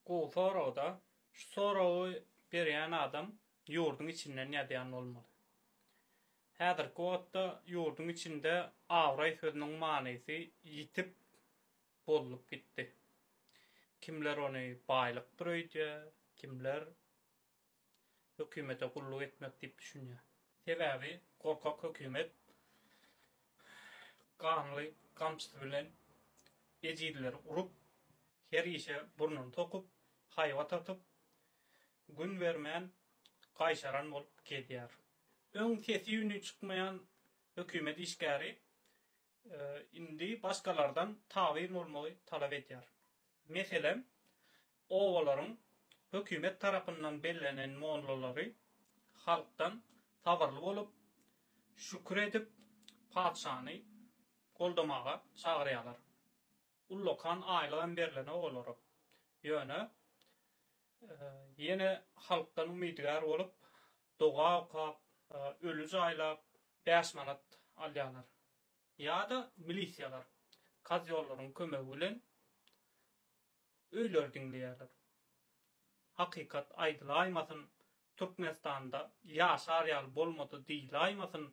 Gowy soragda. Şu soragy berýän adam ýurduň içinden ýazýan bolmaly. Häzirki wagtda ýurduň içinde abraý sözüniň manysy ýitip, bozulyp gitdi. Kimler ony baýlykdyr öýdýär, kimler hökümete gulluk etmek diýip düşünýär. Sebäbi gorkak hökümet ganly gamçysy bilen ejizleri urup, her işe burnuny sokup, haýbat atyp, gün bermän gaýşaran bolup gezýär. Öň sesi-üni çykmaýan hökümet işgäri indi başgalardan tabyn bolmagy talap edýär. Meselem, obalaryň hökümet tarapyndan bellenen mollalary halkdan sabyrly bolup, şükür edip, patyşany goldamaga çagyrýarlar. Ullakan aýlygam berlenok olara. Ýöne, ýene halkdan umydygär bolup, doga okap, öli jaýlap, bäş manat alýarlar. Ýa-da milisiýalar, kazýollaryň kömegi bilen öýleri diňleýärler. Hakykat aýdylaýmasyn, Türkmenistanda ýaşar ýaly bolmady diýilaýmasyn,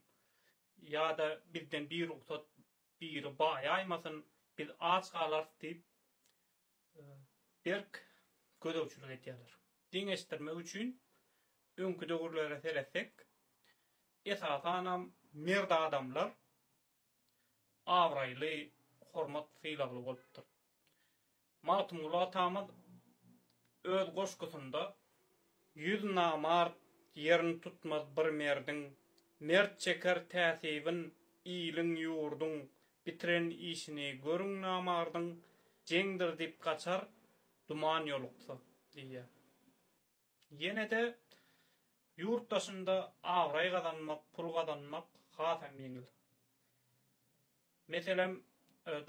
ýa-da bizden birugsat Biri baýaýmasyn, biz aç galarys diýip, berk gözegçilik edýärler. Deňeşdirmek üçin öňki döwürlere seretsek, esasanam mert adamlar abraýly, hormat-sylagly bolupdyr. Magtymguly atamyz öz goşgusynda Ýüz namart ýerini tutmaz bir merdiň, Mert çeker täsibin iliň, ýurduň, Bitiren işini görüň namardyň, Jeňdir diýip gaçar, duman ýoluksa diýýär. Ýene-de ýurt daşynda abraý gazanmak, pul gazanmak has hem ýeňil. Meselem,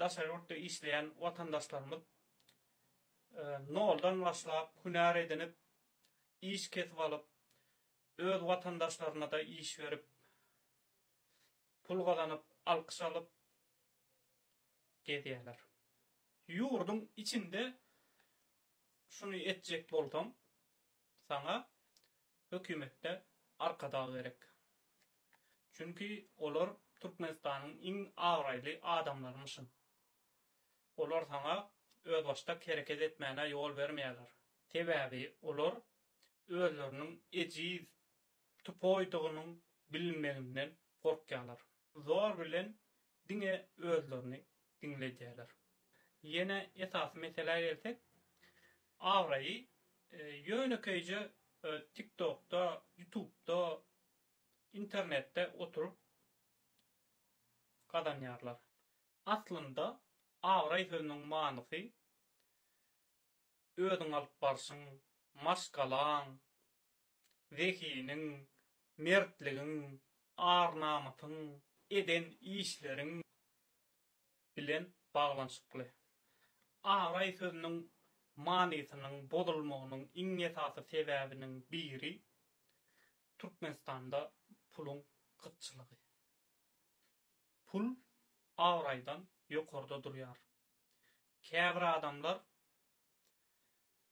daşary ýurtda işleýän watandaşlarymyz noldan başlap, hünär edinip, iş kesip alyp, öz watandaşlaryna-da iş berip, pul gazanyp, alkyş alyp gezýärler. Ýurduň içinde Şuny etjek bolsaň, saňa hökümetde arkadag gerek. Çünki olar Türkmenistanyň iň abraýly adamlarymyşyn. Olar saňa özbaşdak hereket etmäne ýol bermeýärler. Sebäbi olar özleriniň ejiz, tupoýdygynyň bilinmeginden gorkýarlar. Zor bilen diňe özlerini diňledýärler. Ýene esasy meselä gelsek, abraýy ýönekeýje TikTokda, Ýutubda, internetde oturyp gazanýarlar. Aslynda abraý sözüniň manysy özüň alyp barşyň, maşgalaň, zehiniň, mertligiň, ar-namysyň, eden işleriň bilen baglanyşykly. Araý sözüniň manysynyň bozulmagynyň iň esasy sebäbiniň biri Türkmenistanda puluň gytçylygy. Pul abraýdan ýokarda durýar. Käbir adamlar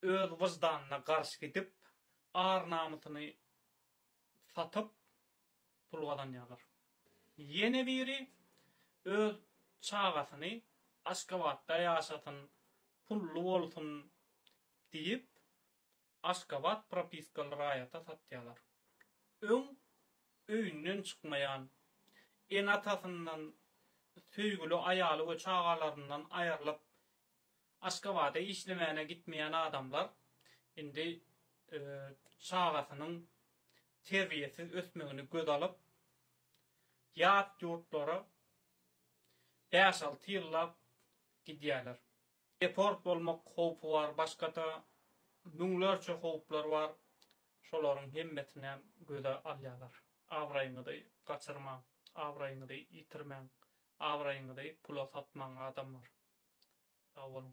Öz wyždanyna garşy gidip, ar-namysyny satyp, pul gazanýarlar. Ýene biri öz çagasyny Aşgabatda ýaşasyn, pully bolsun diýip, Aşgabat propiskaly raýata satýarlar. Öň öýünden çykmaýan, ene-atasyndan, söýgüli aýaly we çagalaryndan aýrylyp, Aşgabada işlemäne gitmeýän adamlar indi çagasynyň terbiýesiz ösmegini göz alyp, ýat ýurtlara bäş-alty ýyllap gidýärler. Deport bolmak howpy bar, başga-da müňlerçe howplar bar. Şolaryň hemmesinem göze alýarlar. Abraýyňyzy gaçyrmaň, abraýyňyzy ýitirmäň, Abraýyňyzy pula satmaň adamlar. Sag boluň.